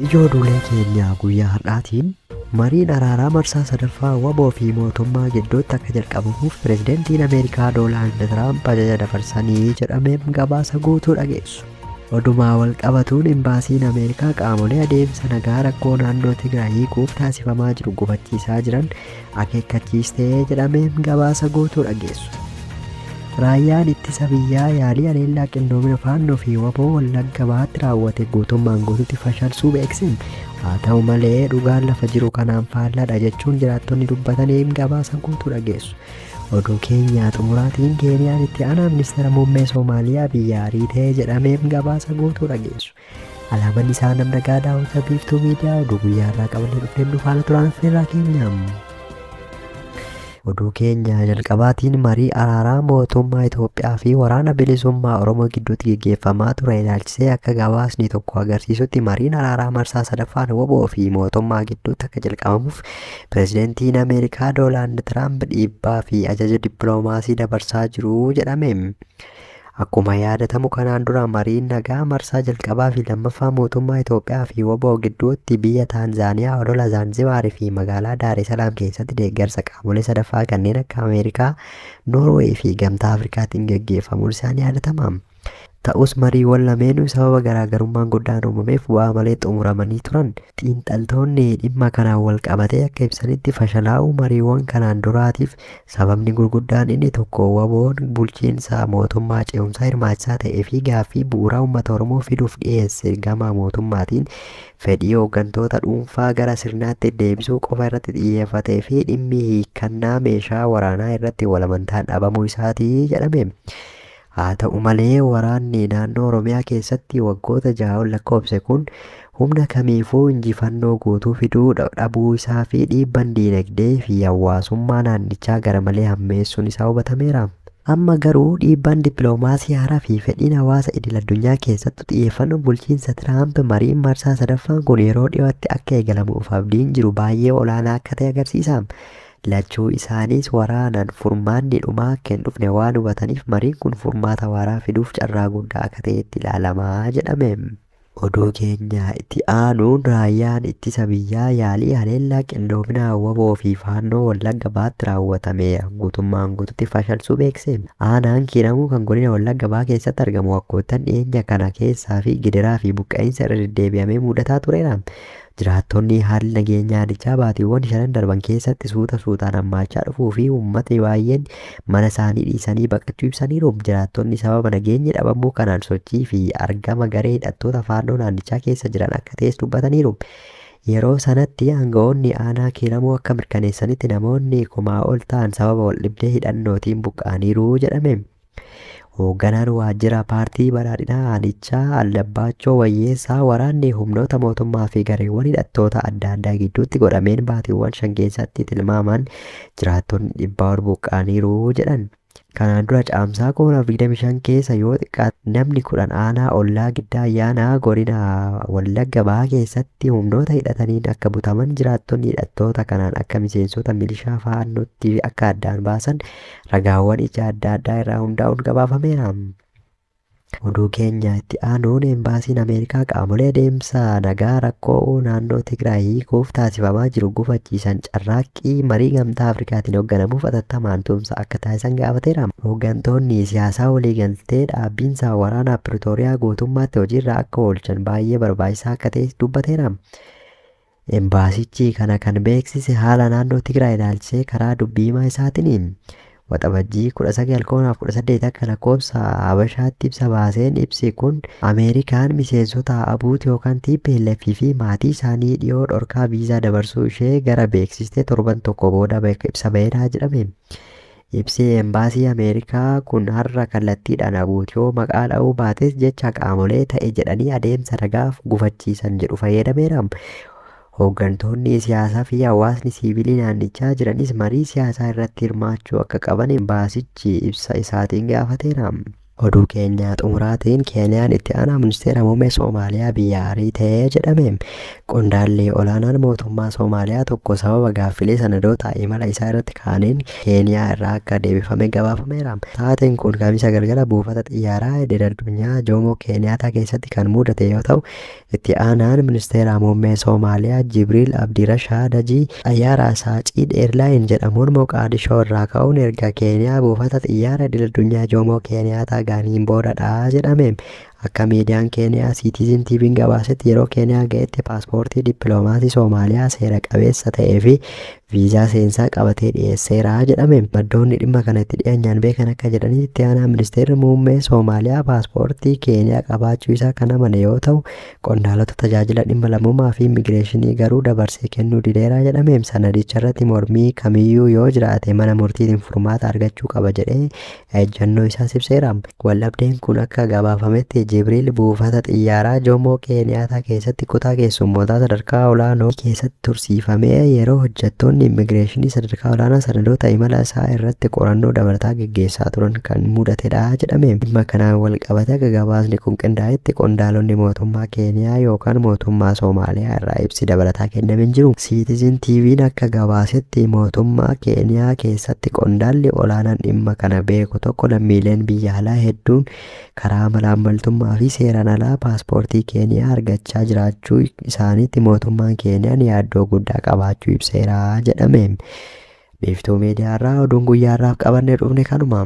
Ijoo duulee keenya guyyaa har'aatiin mariin araaraa marsaa sadaffaa waboo fi mootummaa gidduutti akka jalqabamuuf pirezidantiin Ameerikaa Doonaald Tiraamp ajaja dabarsanii jedhameef gabaasa guutuu dhageessu. Odumaa wal qabatuun imbaasiin Ameerikaa qaamolee adeemsa nagaa rakkoo naannoo Tigraay hiikuuf taasifamaa jiru gufachiisaa jiran akeekkachiiste jedhameen gabaasa guutuu dhageessu. Raayyaan ittisa biyyaa yaalii haleellaa qindoomina faannoo fi waboo wallagga bahaatti raawwate guutummaan guututti fashalsuu beekseen haa ta'u malee dhugaan lafa jiru kanaan faallaadha jechuun jiraattonni dubbataniin gabaasa guutuu dhageessu. Oduu keenyaa xumuraatiin Keeniyaan itti aanaa ministeera muummee Soomaaliyaa biyyaa ariitee jedhameen gabaasa guutuu dhageessu. Alaaban isaa nam nagaa daawwata biiftuu miidiyaa oduu guyyaa irraa qabannee dhufneen nu faana turaan affeerraa keenya. Oduu keenya jalqabaatiin marii araaraa mootummaa Itoophiyaa fi waraana bilisummaa Oromoo gidduutti geggeeffamaa ture ilaalchisee akka gabaasni tokko agarsiisutti mariin araaraa marsaa sadaffaan woboo fi mootummaa gidduutti akka jalqabamuuf pirezidantiin Ameerikaa Doonaald Tiraamp dhiibbaa fi ajaja dippiloomaasii dabarsaa jiru jedhame. Akkuma yaadatamu kanaan dura mariin nagaa marsaa jalqabaa fi lammaffaa mootummaa Itoophiyaa fi wbo gidduutti biyya Taanzaaniyaa odola Zaanzibaar fi magaalaa Daaresalaam keessatti deeggarsa qaamolee sadaffaa kanneen akka Ameerikaa, Noorweey fi Gamtaa Afrikaatiin gaggeeffamuun isaa ni yaadatama. Ta'us mariiwwan lameenuu sababa garaagarummaan guddaan uumameef bu'aa malee xumuramanii turan. Xiinxaltoonni dhimma kanaan walqabatee akka ibsanitti fashalaa'uu mariiwwan kanaan duraatiif Sababni gurguddaan inni tokko waboon bulchiinsa mootummaa ce'umsaa hirmaachisaa ta'ee fi gaaffii bu'uuraa uummata Oromoo fiduuf dhiyeesse gama mootummaatiin fedhii hooggantoota dhuunfaa gara sirnaatti deebisuu qofa irratti xiyyeeffatee fi dhimmi hiikkannaa meeshaa waraanaa irratti walamantaan dhabamuu isaati jedhame. Haata'u malee waraanni naannoo Oromiyaa keessatti waggoota jaha ol lakkoofse kun humna kamiifuu injifannoo guutuu fiduu dhabuu isaa fi dhiibban diinagdee fi hawaasummaa naannichaa garamalee hammeessuun isaa hubatameera. Amma garuu dhiibbaan dippiloomaasii haaraa fi fedhiin hawaasa idil-addunyaa keessattu xiyyeeffannoon bulchiinsa Tiraamp mariin marsaa sadaffaan kun yeroo dhiyootti akka eegalamuuf abdiin jiru baay'ee olaanaa akka ta'e agarsiisa. Lachuu isaaniis waraanaan furmaanni dhumaa akka hin dhufne waan hubataniif mariin kun furmaata waaraa fiduuf carraa guddaa akka ta'eetti ilaalama jedhame. Oduu keenya itti aanuun Raayyaan Ittisa Biyyaa yaalii haleellaa qindoomina wbo fi Faannoo Wallagga Bahaatti raawwatame guutummaan guututti fashalsuu beeksise. Aanaan Kiiramuu kan godina Wallagga Bahaa keessatti argamu waggoottan dhiyeenya kana keessaa fi gidiraa fi buqqa'iinsa irra deddeebi'amee muudataa tureera. Jiraattonni haalli nageenyaa aanichaa baatiiwwan shanan darban keessatti suuta suutaan hammaachaa dhufuu fi uummatni baay'een mana isaanii dhiisanii baqachuu ibsaniiru. Jiraattonni sababa nageenyi dhabamuu kanaan sochii fi argama garee hidhattoota Faannoo naannichaa keessa jiran akka ta'es dubbataniiru. Yeroo sanatti aanga'oonni aanaa Kiiramuu akka mirkaneessanitti namoonni kumaa ol ta'an sababa waldhibdee hidhannootiin buqqa'aniiru jedhame. Hoogganaan waajjira paartii badhaadhinaa aanichaa Aldabbaachoo Wayyeessaa waraanni humnoota mootummaa fi gareewwan hidhattoota adda addaa gidduutti godhameen baatiiwwan shan keessatti tilmaamaan jiraattonni dhibbaa ol buqqa'aniiru jedhan. Kanaan dura Caamsaa 2025 keessa yoo xiqqaate namni kudhan aanaa ollaa Giddaa Ayyaanaa godina Wallagga Bahaa keessatti humnoota hidhataniin akka butaman jiraattonni hidhattoota kanaan akka miseensota milishaa faannootti akka addaan baasan ragaawwan ija adda addaa irraa hundaa'uun gabaafameera. Oduu keenya itti aanuun Embaasiin Ameerikaa qaamolee deemsa nagaa rakkoo naannoo Tigraay hiikuuf taasifamaa jiru gufachiisan carraaqqii marii gamtaa Afrikaatiin hoogganamuuf atattamaan tumsa akka taasisan gaafateera. Hooggantoonni siyaasaa waliigaltee dhaabbiinsa waraanaa Piritooriyaa guutummaatti hojiirra akka oolchan baay'ee barbaachisaa akka ta'es dubbateera. Embaasichi kana kan beeksise haala naannoo Tigraay ilaalchisee karaa dubbi himaa isaatini. Waxabajjii 19, 2018 akka lakkoofsa Habashaatti ibsa baaseen ibsi kun Ameerikaan miseensota ABUT yookaan tplf fi maatii isaanii dhiyoo dhorkaa viizaa dabarsuu ishee gara beeksistee torban tokko booda ibsa baheedha jedhame. Ibsi Embaasii Ameerikaa kun har'a kallattiidhaan Abuut yoo maqaa dha'uu baates jecha qaamolee ta'e jedhanii adeemsa nagaaf gufachiisan jedhu fayyadameera. Hooggantoonni siyaasaa fi hawaasni siivilii naannichaa jiranis marii siyaasaa irratti hirmaachuu akka qaban embaasichi ibsa isaatiin gaafateera. Oduu keenya xumuraatiin Keeniyaan itti aanaa ministeera muummee Soomaaliyaa biyyaa ariite jedhame. Qondaalli olaanaan mootummaa Soomaaliyaa tokko sababa gaaffilee sanadoota imala isaa irratti kaa'aniin Keeniyaa irraa akka deebifame gabaafameera. Taateen kun Kamisa galgala buufata xiyyaaraa idil addunyaa Joomoo Keeniyaataa keessatti kan mudate yoo ta'u, Itti aanaan ministeera muummee Soomaaliyaa Jibriil Abdirashaad Hajii xayyaara Asaaciid Eerlaayin jedhamuun Moqaadishoo irraa ka'uun erga Keeniyaa buufata xiyyaara idil addunyaa Joomoo Keeniyaataa ga'aniin boodadha jedhame. Akka miidiyaan Keeniyaa Siitiizin TV'n gabaasetti yeroo Keeniyaa ga'etti paaspoortii dippiloomaasii Soomaaliyaa seera qabeessa ta'ee fi viizaa seensaa qabatee dhiyeesseera jedhame. Maddoonni dhimma kana itti dhiyeenyaan beekan akka jedhanitti itti aanaa ministeerri muummee Soomaaliyaa paaspoortii Keeniyaa qabaachuu isaa kan amane yoo ta'u, qondaalota tajaajila dhimma lammummaa fi immigireeshinii garuu dabarsee kennuu dideera jedhame. Sanadicharratti mormii kamiyyuu yoo jiraate mana murtiitiin furmaata argachuu qaba jedhee ejjannoo isaas ibseera. Waldhabdeen kun akka gabaafametti Jibriil buufata xiyyaaraa Jomoo Keeniyaataa keessatti kutaa keessummootaa sadarkaa olaanoo keessatti tursiifamee yeroo hojjettoonni immigireeshinii sadarkaa olaanaa sanadoota imala isaa irratti qorannoo dabalataa geggeessaa turan kan mudatedha jedhame. Dhimma kanaan walqabatee akka gabaasni kun qindaa'etti qondaalonni mootummaa Keeniyaa yookaan mootummaa Soomaaliyaa irraa ibsi dabalataa kenname hin jiru. Siitizin TV'n akka gabaasetti mootummaa Keeniyaa keessatti. Itti qondaalli olaanaan dhimma kana beeku tokko lammiileen biyya alaa hedduun karaa malaammaltummaa fi seeraan alaa paaspoortii Keeniyaa argachaa jiraachuu isaaniitti mootummaan Keeniyaan yaaddoo guddaa qabaachuu ibseera jedhame. Biiftuu Miidiyaarraa oduun guyyaa har'aaf qabannee dhufne kanuma.